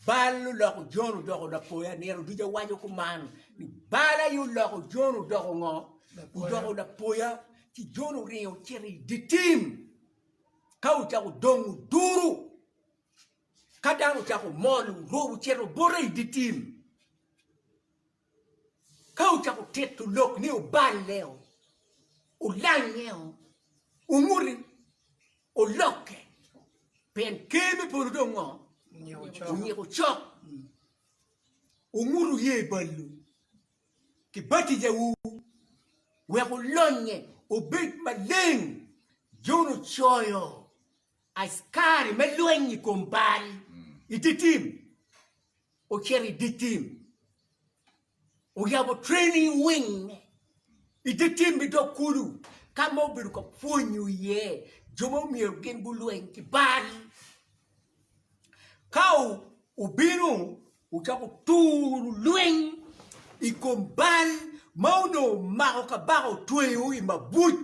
Bal oloko Jon odoko lapoya. Nino duca waco kuman ni bal aye oloko Jon odoko ngo? Odoko lapoya. Ci Jon oringo ocito i dye tim ka ocako dongo duru. Ka dano ocako mol orubo ocito bote i dye tim. Ka wucako tito lok ni wuballeo, wulangeo, wunguti, wulokke, pien Ker me polo dong ngo? Onyiko cok. Wungut wuye balwu ki batijawu wek wulonye wubed maleng, Jon ocoyo. Askari me lweny i kom bal i dye tim ocito i dye tim, oyabo training wing i dye tim me dog kulu ka ma obedo ka pwonyo iye jo ma myero gin gulweny ki bal. Ka obino ocako turo lweny i kom bal ma onongo omako kabaka otweyo i mabuc.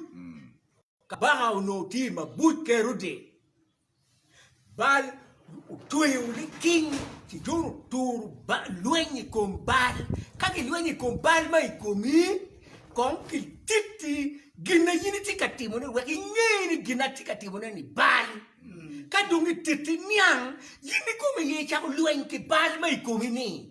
Kabaka onongo tye i mabuc Kerode, Baal otweyo liking ci dong oturo lweny i kom Baal. Ka gilwenyo i kom Baal ma i komi, kong kititi gin ma in itye ka timone wek inge ni gin ma atye ka timone-ni Baal. Ka dong gititi niang, in ikomi aye icako lweny ki Baal ma i komi-ni.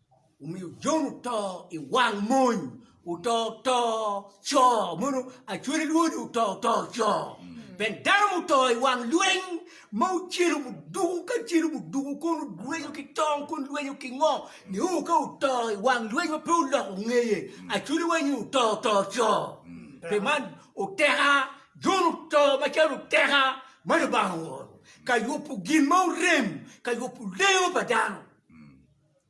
Omiyo Jon oto i wang mony, oto oto co mono acwele lwodi oto oto co. Ben dano muto i wang lweny ma ocelo muduku ka celo muduku kon lwenyo ki tong kon lwenyo ki ngo ni o ka oto i wang lweny ma pe oloko ngeye acwele wanyi oto oto co. Pe man oteka Jon oto macalo oteka ma Lubanga ooro ka yubo gin ma orem ka yubo lengo pa dano.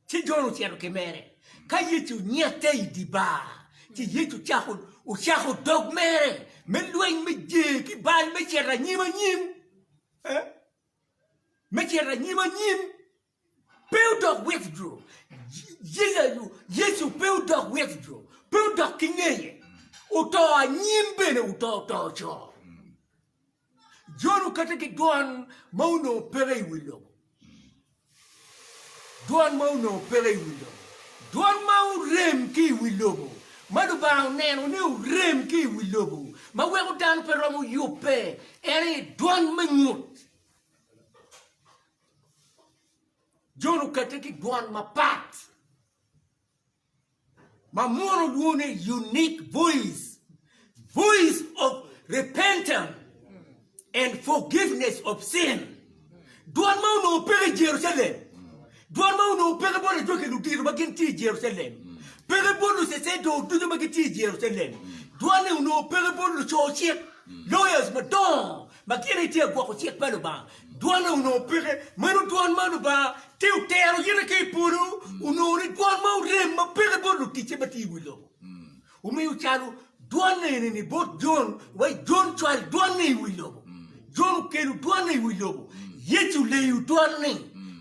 Ci Jon ocito ki mere ka Yecu nyette i dye bar, ci Yecu ocako dog mere me lweny me jer ki bal me cito anyim anyim. Me cito anyim anyim. Pe odok withdraw. Yecu pe odok withdraw. Pe odok ki ngeye. Oto anyim bene oto oto co. Jon kati ki dwan ma onongo peke i wi lobo. Dwan ma onongo peke i wi lobo. Dwan ma orem ki i wi lobo, ma Lubanga oneno ni orem ki i wi lobo, ma weko dano pe romo yubbe, en aye dwan me ngut. Jon okate ki dwan mapat. ma mono dwone unique voice voice of repentance and forgiveness of sin dwan ma onongo peke i Jerucalem dwan ma onongo peke bot ajwaki ludito ma gin tye i Jerucalem peke bot lucecedor ducu ma gitye i Jerucalem dwan-ni onongo peke bot luco cik lawyers madongo Ma gin aye tye agwoko cik pa Lubanga. Dwone onongo peke. Meno dwon ma Lubanga tye otero yite ki i polo onongo ni dwon ma orem ma peke bot luticce ma tye i wi lobo. Omiyo calo dwon eni-ni bot Jon, wa i Jon cwal dwon-ni i wi lobo. Jon okelo dwon-ni i wi lobo. Yecu oleyo dwon-ni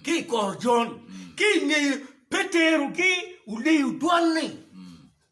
ki i kor Jon. Ki i ngeye Petero gi oleyo dwon-ni.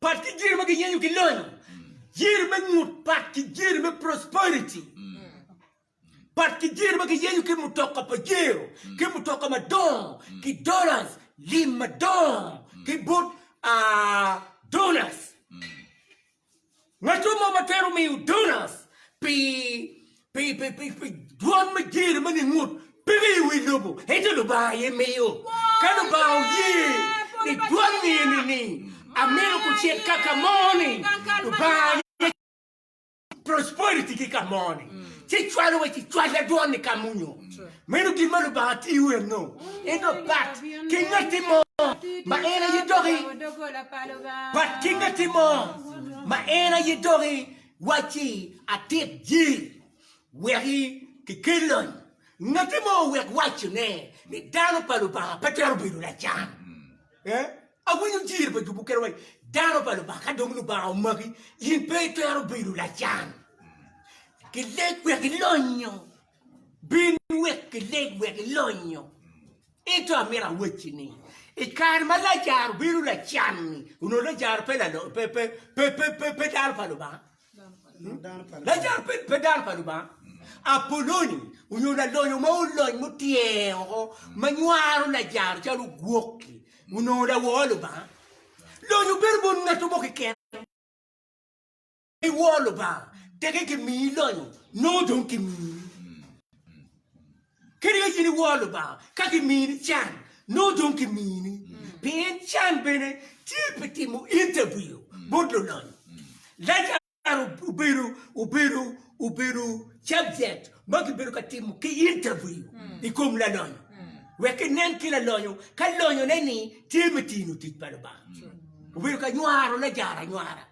Pat ki gin ma giyenyo ki lonyo. Gin me ngut pat ki gin me prosperity. Pat ki gin ma giyenyo ki mutoka pa jero, ki mutoka madongo, ki dollars, lim madongo, ki bot ah, donors. Ngaco mo ma twero miyo donas pi pi pi pi pi dwon me jer ma ningut peke i wi lobo, ento Lubanga aye miyo. Ka Lubanga oye ni dwon ni eni ni amito kucit ka ka mo ni, Lubanga aye cwalo prosperity ki ka mo ni, ci cwalo wa ci cwal da dwon ni ka munyo. Meno gin ma Lubanga tiyo enno, en dok pat ki ngatti mo ma en aye doki, pat ki ngatti mo ma en aye doki, wacci atit ji weki ki kel lony, ngatti mo owek wacci ne ni dano pa Lubanga pe twero bedo lacan. Eh? Awinyo jir pa jubu kene wacci dano pa Lubanga ka dong Lubanga omaki in pe itwero bedo lacan. Ki leg wek ilonyo Bin wek ileg wek ilonyo. Ento amito awacci ni, i kare ma Lajaro bino lacan-ni, onongo Lajaro pe dano pa Lubanga? Lajaro pe dano pa Lubanga. Apoloni onyo lalonyo mo olony mutyer woko ma nywaro Lajaro calo ogwok-ki, onongo lawor Lubanga? Lonyo bedo bot ngatto mo keken. I wor Lubanga, teke kimiyi lonyo, nongo dong kimiyi. Kadi ka in iwor Lubanga, ka kimini can, nongo dong kimini. Pien can bene tye pi timo interview bot lulonyo. Lazaro obedo obedo obedo subject ma kibedo ka timo ki interview i kom lalonyo, wek kinen ki lalonyo ka lonyone-ni tye me tino tic pa Lubanga. Obedo ka nywaro Lazaro anywara.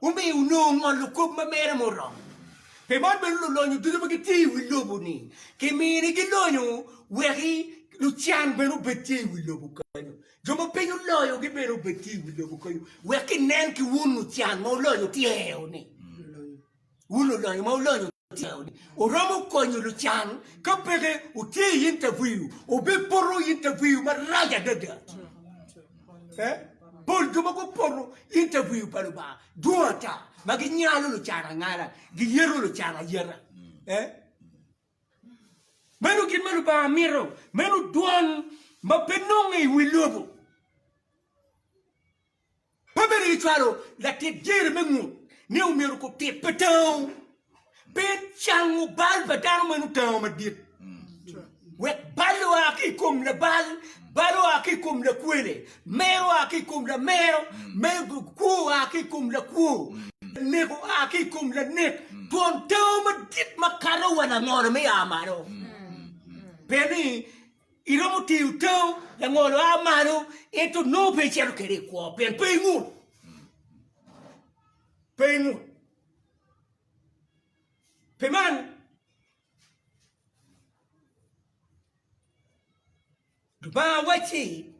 Omiyo onongo ngolo kop ma mere muromo. Pi man bene lulonyo ducu ma gitye i wi lobo-ni kiminigi lonyo wek lucan bene obed tye i wi lobo kenyo. Jo ma piny oloyogi bene obed tye i wi lobo kenyo wek kinen ki wun lucan ma wulonyo tye-ni. Wun lulonyo ma wulonyo. Oromo konyo lucan ka peke wutye i interview, wubipoto interview marac adada. Pol jo ma gupoto interview pa Lubanga dwong ata ma ginyalo lucan angala, giyeto lucan ayeta. Meno gin ma Lubanga mito, meno dwan ma pe nonge i wi lobo. Pe bedo ni cwalo latit dyere me ngut ne omyero okub tit pa tango pe cango bal pa dano ma nongo tango madit, wek bal oa ki i kom labal, bal oa ki i kom lakwele, mer oa ki i kom lamero, kwo oa ki i kom lakwo, lanek oa ki i kom lanek, twon tango madit makato wa langolo me ya malo. Pe ni. Iromo tiyo tau, langolo a malo, ento nongo pe icito kwede i kwo pien pe ingut. Pe ingut. Pi man, Lubanga wacci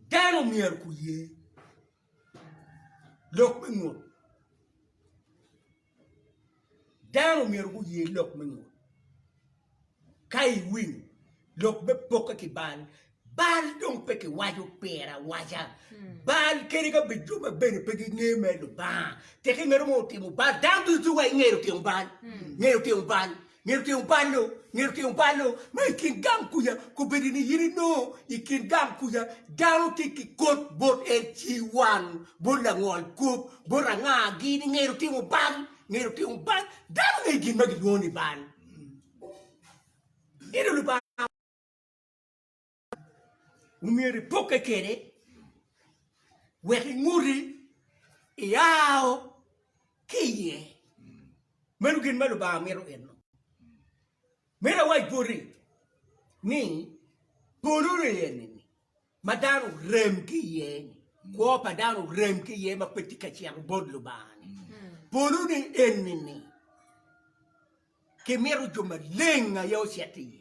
dano myero guye Lok me ngut. Dano myero guye lok me ngut. Ka iwinyo lok me pokke ki bal, bal dong pe kiwaco pire awaca. Bal kadi ka bed jo ma bene pe ginge me Lubanga, tek ingeto mo otimo bal, dano ducu wa ingeyo timo bal, ngeyo timo bal. Ngeto tyeng balo, ngeto tyeng balo ma i kin gang kuca kobedo ni in inongo i kin gang kuca dano tye ki kot bot en ci wan bot langol kop bot anga gi ni ngeto tyeng bal, ngeto tyeng bal dano ngeyo gin ma gilwongo ni bal. omyero ipokke kwede wek inguti iao ki iye. Meno gin ma Lubanga mito eno. Meno awac boti ni polo eni ma dano orem ki iye-ni, kwo pa dano orem ki iye ma pe tye ka cito bot Lubanga-ni, polone eni-ni. Kimito jo maleng aye ocit iye.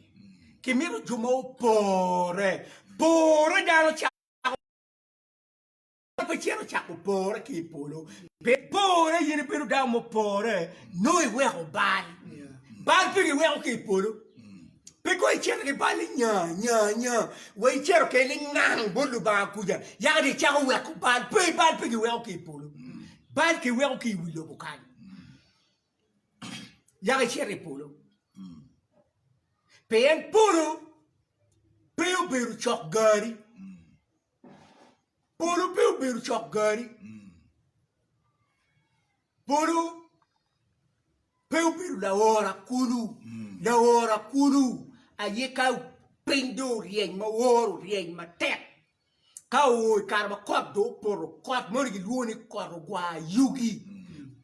Kimito jo ma opore. Pore dano cako pe cito cako pore ki i polo. Pi pore in ibedo dano mupore nongo iweko bal. Bal pe giweko ki i polo. Pe kong icito ki bal ni nya nya nya wa icito kede lingang bot Lubanga kuca yaka dong icako weko bal. Pe bal pe giweko ki i polo. Bal kiweko ki i wi lobo kany. yaka icito i polo. Pien polo pe obedo cok gari. Polo pe obedo cok gari. Polo pe obedo laora kulu. Laora kulu aye ka piny do oryeny ma woro oryeny matek. Ka oo i kare ma kot dong opoto, kot moni gilwongo ni kot ogwar yugi,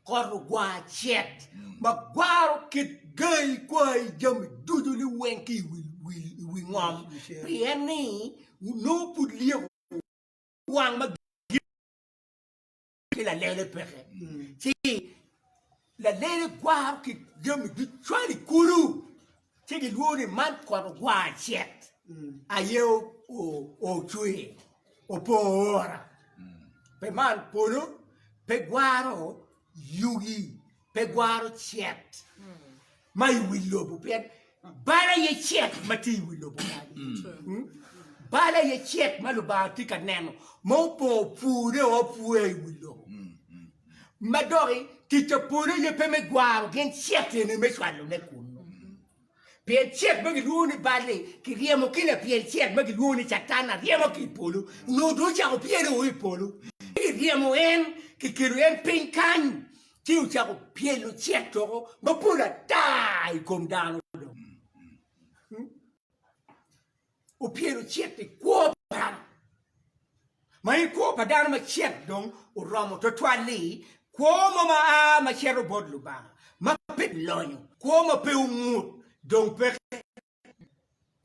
kot ogwar cet ma gwaro kit gai, kwai, jami ducu liweng ki i wi ngom pien ni nongo pud lyeko wang ma ki lalele peke, ci lalele gwaro ki jami ducwal i kulu, ci gilwongo ni man kot ogwar cet aye ocwe opo ora, pe man polo pe gwaro yugi. pe gwaro cet ma i wi lobo pien bal aye cet ma tye i wi lobo mm. bal aye cet ma lubanga tye ka neno ma opor pure o pure i wi lobo mm. ma doki tic pa polo aye pe me gwaro gin cet eni me cwalone kunu Pyel cet ma gilwongo ni bal-li kiryemo ki lapyel cet ma gilwongo ni Catan aryema ki i polo, nyo dong ocako pyelo o i polo, ci kiryemo en, kikelo en piny kany, ci ocako pyelo cet doko mapol ata i kom dano dong. opyelo cit i kwo pa dano, ma en kwo pa dano ma cit dong oromo twatwal-li, kwo mo ma a ma cito bot Lubanga, ma pe lonyo, kwo ma pe ongut, dong peke.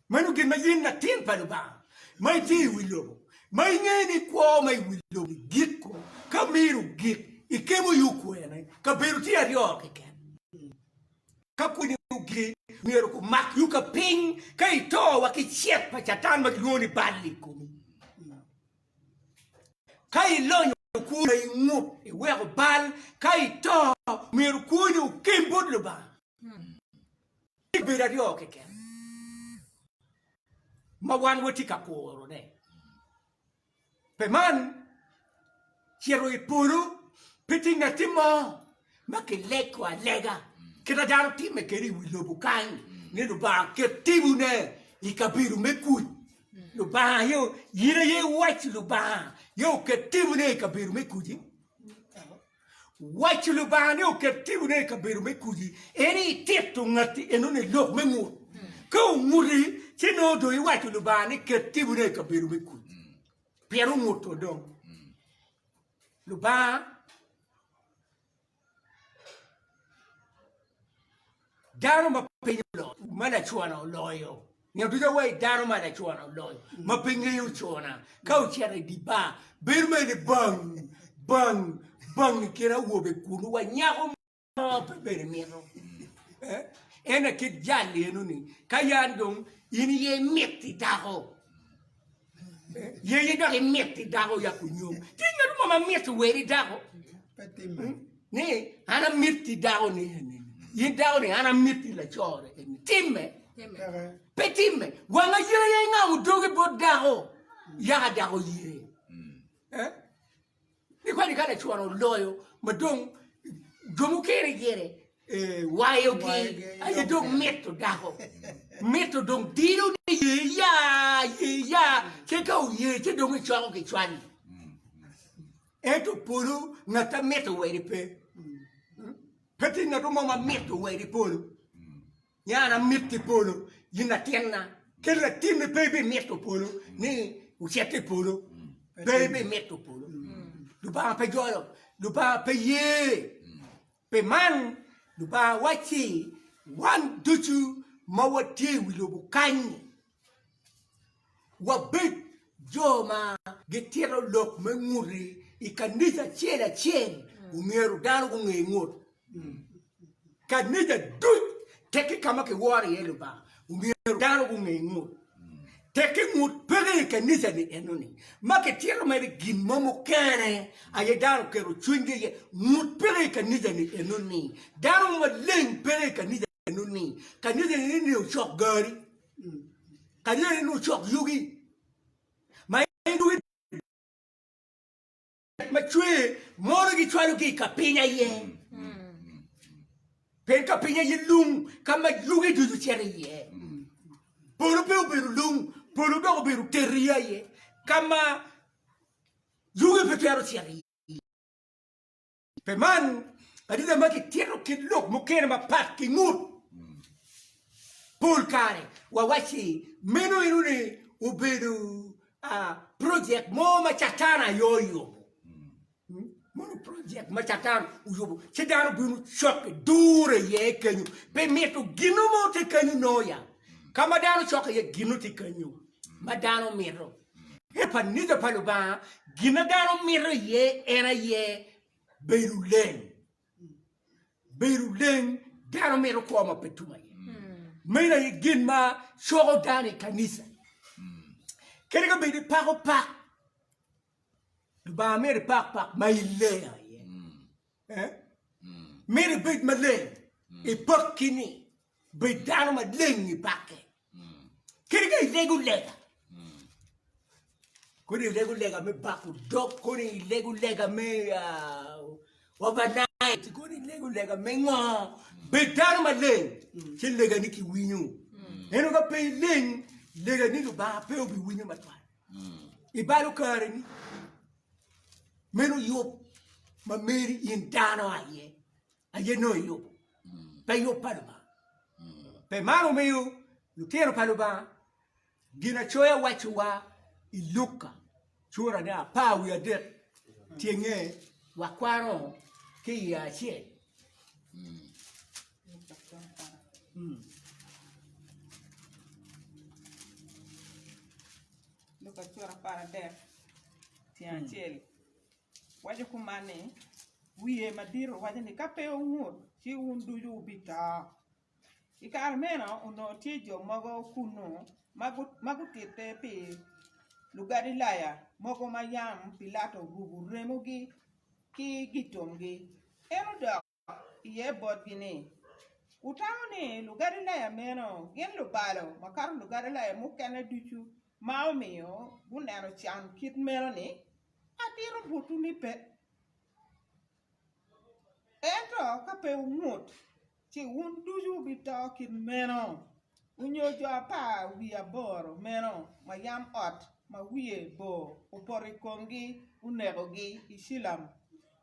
Meno gin ma in latin pa Lubanga, ma itye i wi lobo, ma ingeyo ni kwo ma i wi lobo-ni giko ka miro gik, ikemo yo kwene, kabedo tye aryo keken. ka pwonyogi myero gumak yo ka piny ka ito wa ki cet pa Catan ma kilwongo ni bal i komi. Ka ilonyo kwo ma ingut, iweko bal, ka ito myero kwoni okem bot Lubanga. Tye bedo aryo keken ma wan watye ka kurone. Pi man, cito i polo pe tye ngatti mo ma kilego alega kite dano timme kede i wi lobo kany ni Lubanga oket tibune i kabedo me kuc. Lubanga aye, in aye iwaco Lubanga aye oket tibune i kabedo me kuc-ci? Waco Lubanga ni oket timone i kabedo me kudi en i tito ngatti enoni i lok me ngut. Ka onguti, ci nongo dong iwaco Lubanga ni ket timone i kabedo me kudi. Pien onguto dong. Lubanga Dano ma piny oloyo, ma lacona oloyo. Nyo ducu awayi dano ma lacona oloyo, ma pe ngeyo ocona. Ka ocito i di bar, bedo mere ni bang, bang, bang i kin awobe kulu wa nyako mo pe bene mito. Eh? Ene kit jal eno ni, ka yan dong in iye imiti dako, Yenye dok imit i dako yak onyom. Ti ngat mo ma mit wer i dako. Ni an amit i dako ni eni. Yi dako ni an amit i lacore eni. Timme. Pe timme. Wanga yeye nga udoge bot dako. Yaka dako yeye. Hmm. Eh? Ni kadi ka lacwara oloyo ma dong jo mukene gire wayogi aye dong mito dako mito dong dilo ni ye ya ye ya ce ka oye ce dong icwako ki cwali ento polo ngat amito weri pe pe tye ngat mo ma mito weri polo Nya an amito i polo, in latinna, kadi latinni pe ibimito polo ni wucit i polo, pe ibimito polo. Lubanga pe jolo, Lubanga pe ye. Pi man, Lubanga wacci wan ducu ma watye i wi lobo kany-ni, wabed jo ma gitito lok me ngute i kanica acel acel omyero dano gunge ngut kanica duc teki ka ma kiworo iye lubanga omyero dano gunge ngut teki ngut peke i kanica ni enoni ma kitito mere gin mo mukene aye dano keto cwiny gi iye ngut peke i kanica ni enoni dano maleng peke i kanica Eno ni, kanisa eno ni ocok gari, kanisa eno ni ocok yugi, ma en yugi ma cwer mono gicwalo ki i ka piny aye. Pien ka piny aye lung ka ma yugi ducu cito iye. Polo pe obedo lung, polo dok obedo teri aye ka ma yugi pe twero cito iye. Pi man, adita ma kitito kit lok mukene mapat ki ngut pol kare wawacci meno eno ni obedo projek mo ma Catan aye oyubo. Mono projek ma Catan oyubo ci dano bino cokke dure iye kenyo pi mito ginno mo tye kenyo noya ka ma dano cokke iye ginno tye kenyo ma dano mito. I kanica pa Lubanga, gin ma dano mito iye en aye bedo leng. Bedo leng, dano mito kwo ma pe tum aye. Meno aye gin ma coko dano i kanica. Kadi ka bedi pako pak, Lubanga mito ipak pak ma ileng aye. Eh? Mito ibed maleng, ipak kini, bed dano maleng ipake. Kadi ka ilego lega, kodi ilego lega me bako dog, kodi ilego lega me uh, overnight, kodi ilego lega me ngo, bed dano maleng, ci legani kiwinyo. Eno ka pe ileng, legani Lubanga pe obiwinyo matwal. Ibalo kareni, meno yub ma meri in dano aye. aye nongo iyubo pe yub pa Lubanga. Pe man omiyo lutino pa Lubanga Ginacoya wacciwa i Luka cura ne apar wiye adek tyenge wakwano ki iye acel. Luka cura apar adek tyeng acel. waco kuman ni, Wiye madito waco ni, Ka pe wungut, ci wun ducu wubito. I kare meno onongo tye jo mogo kunnu ma gutitte pi Lugalilaya mogo ma yam Pilato orubo remogi ki gitomgi. En odok. iye botgi ni, Wutamo ni Lugalilaya meno gin lubalo makato Lugalilaya mukene ducu ma omiyo guneno can kit meno-ni? Atito botwu ni pe. Ento ka pe wungut, ci wun ducu wubito kit meno, onyo jo apar wiye aboro meno ma yam ot ma wiye bor opoto i komgi onekogi i Cilam.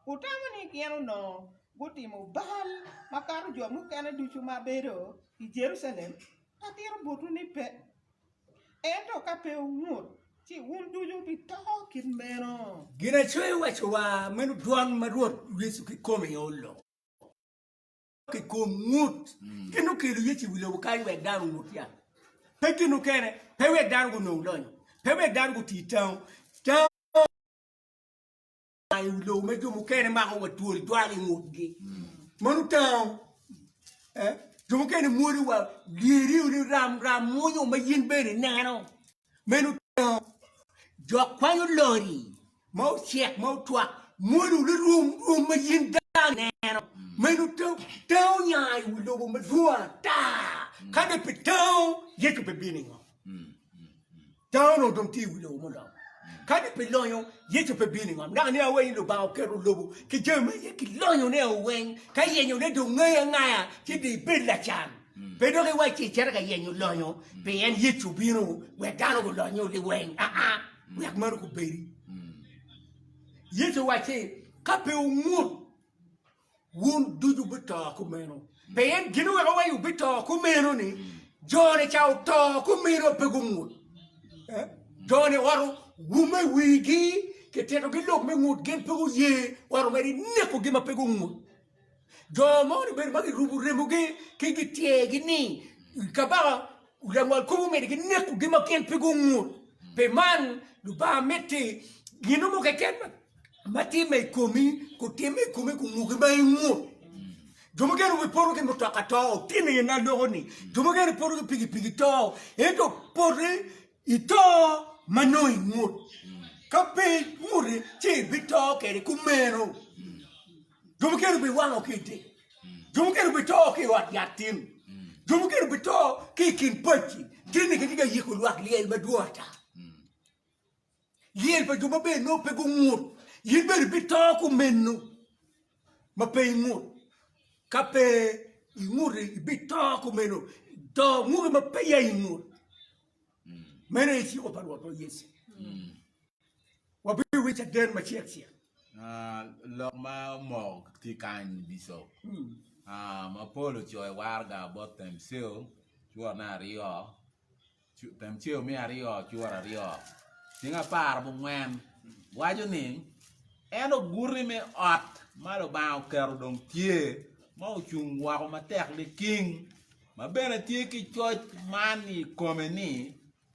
Wutamo ni gin onongo gutimo bal makato jo mukene ducu ma bedo i Jerucalem? Atito botwu ni pe. Ento ka pe wungut, ci wun ducu wubito kit meno. Ginacwe owaco wa, Meno dwan ma Rwot Yecu kikome olo ki kom ngut. Gin okelo Yecu i wi lobo kany wek dano ongut ya, pe gin okene, pe wek dano gunong lonyo, pe wek dano guti tango. Aa i wi lobo ma jo mukene mako wa twol jwalo i ngutgi. Mano tango. Eh? Jo mukene mwolo wa lyeriu ni ram ram mwonyo ma yin bene ineno. Meno tango. Jo kwanyo lori ma ocek ma otwak mwolo ni rwom rwom ma yin dano ineno. Meno tango. Tango nya i wi lobo madwong ata. Ka dong pe tango, Yecu bibino ingo? Dano onongo dong tye i wi lobo mulam. Kadi pi lonyo, Yecu pe bino i ngom. Dok aniang weny ni Lubanga oketo lobo ki jami ma iye ki lonyone o weng, ka yenyone dong ngayi angaya ci dong ibed lacan. Pe dok iwac ci icito ka yenyo lonyo, pien Yecu obino wek dano gulony o liweng aa, wek meno kubedi. Yecu owaco ni, Ka pe wungut, wun ducu wubito kumeno. Pien gin oweko wa ni wubito kumeno ni jone ca oto kumeno pe gungut. Eh? Jone oro wume wigi kititogi lok me ngut gin pe guye oro mere nekogi ma pe gungut. Jo mo ni bene ma girubo remogi ki gityegi ni kabaka langwal kop omyero ginekogi ma gin pe gungut. Pi man Lubanga miti gin mo keken ma timme i komi kutimme i komi kunguki ma ingut jo mukene gipoto ki mutoka to otino iye na loko ni jo mukene poto ki pikipiki to ento poti ito ma nongo ingut ka pe inguti ci ibito kede kumeno jo mukene biwango ki ite jo mukene bito ki i ot yat tin jo mukene bito ki i kin pacci kit ni kitye ka yiko lwak lyel madwong ata Lyel pa jo maber nongo pe gungut, in bene ibito kumeno ma pe ingut. Ka pe inguto, ibito kumeno, to nguto ma peya ingut. Meno aye cik pa Rwotwa Yecu. Wabiwinyo caden macel-cel. Ah, lok ma omoko tye kany Bicop. Ah, mapol ocoyo waraga both themselves, cwotne aryo, Timoceyo me aryo cura aryo cing apar abongwen waco ni, En oguti me ot ma Lubanga oketo dong tye, ma ocung woko matek liking, ma bene tye ki coc man i kome ni,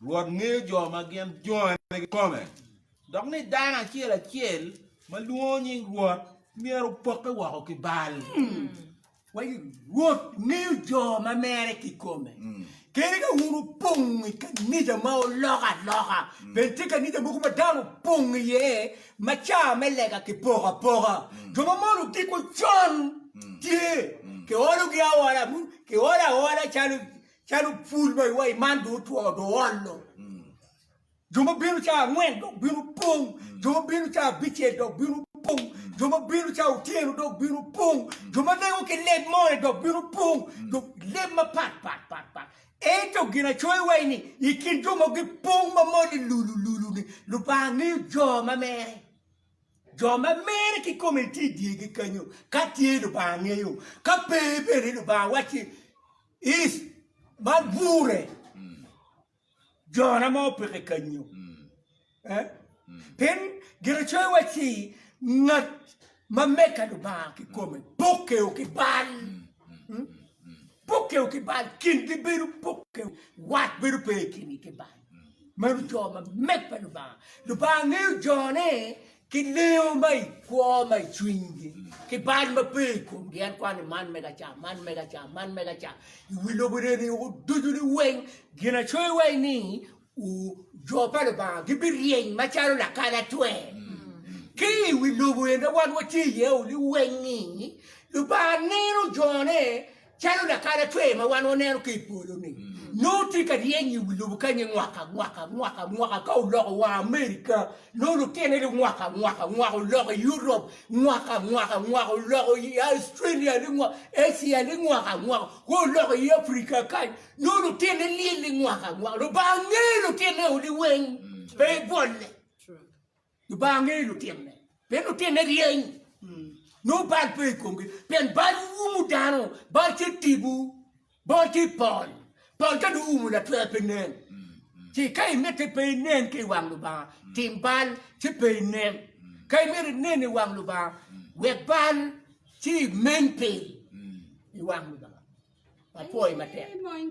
Rwot ngeyo jo ma gin jone kikome, dok ni dano acel acel ma lwongo nying Rwot myero opokke woko ki bal. Wek Rwot ngeyo jo ma mere kikome. Kadi ka wun wupong i kanija ma oloko aloka, bed tye kanija mogo ma dano opong iye ma ca me lega kipoko apoka, jo ma mono ogikwa con tye, kiologi aola, kiolo aola calo pul ma iwaci man dong otwo, dong oolo. Jo ma bino cawa angwen dok bino pong, jo ma bino cawa abicel dok bino pong, jo ma bino cawa otyeno dok bino pong, jo ma lengo ki leb mone dok bino pong, jo leb mapat pat pat pat. Ento ginacoya iwaci ni, i kin jo ma gipong ma moni lulu lulu-ni, Lubanga ngeyo jo ma mere. Jo ma mere kikome tye i dyegi kenyo, ka tye Lubanga ngeyo, ka pe bene Lubanga wacci, Is, man gure. jona ma opeke kanyu. Pien Ginacoya wacci, Ngat ma meka Lubanga kikome pokeo ki bal, pokeo ki bal, kingi bedo pokeo, wat bedo pe i kingi ki bal. Meno jo ma meka Lubanga. Lubanga ngeyo jone ki leyo ma i kwo ma i cwinygi, ki bal ma pe i komgi, en kwano ni man mega ca, man mega ca, man mega ca, i wi lobo reni oko ducu ni weng, ginacoyo wa ni u, jo pa Lubanga gibiryeny macalo lakalatwer, ki i wi lobo eni ma wan watye iye-ni weng-ngi, Lubanga neno jone Calo lakalacwer ma wan waneno ki i polo-ni, nongo tye ka ryeny i wi lobo kany-nyi mwaka mwaka mwaka mwaka. Ka oloko wa Amerika, nongo lutine ni mwaka mwaka mwaka, oloko i Europ mwaka mwaka mwaka, oloko i Australia ni mwaka, Asia ni mwaka mwaka, wa oloko i Afrika kany, nongo lutine lyel ni mwaka mwaka. Lubanga ngeyo lutine-o liweng, pe bwolle. Lubanga ngeyo lutinone, pien lutinone ryeny, nongo bal pe i komgi, pien bal umu dano, bal tye tipo, bal tye pol, pol ka dong oumo latwer pe nen. Ci ka imite pe inen ki i wang Lubanga, tim bal ci pe inen. Ka imito inen i wang Lubanga, wek bal ci imeny piny i wang Lubanga. Apwoyi matek.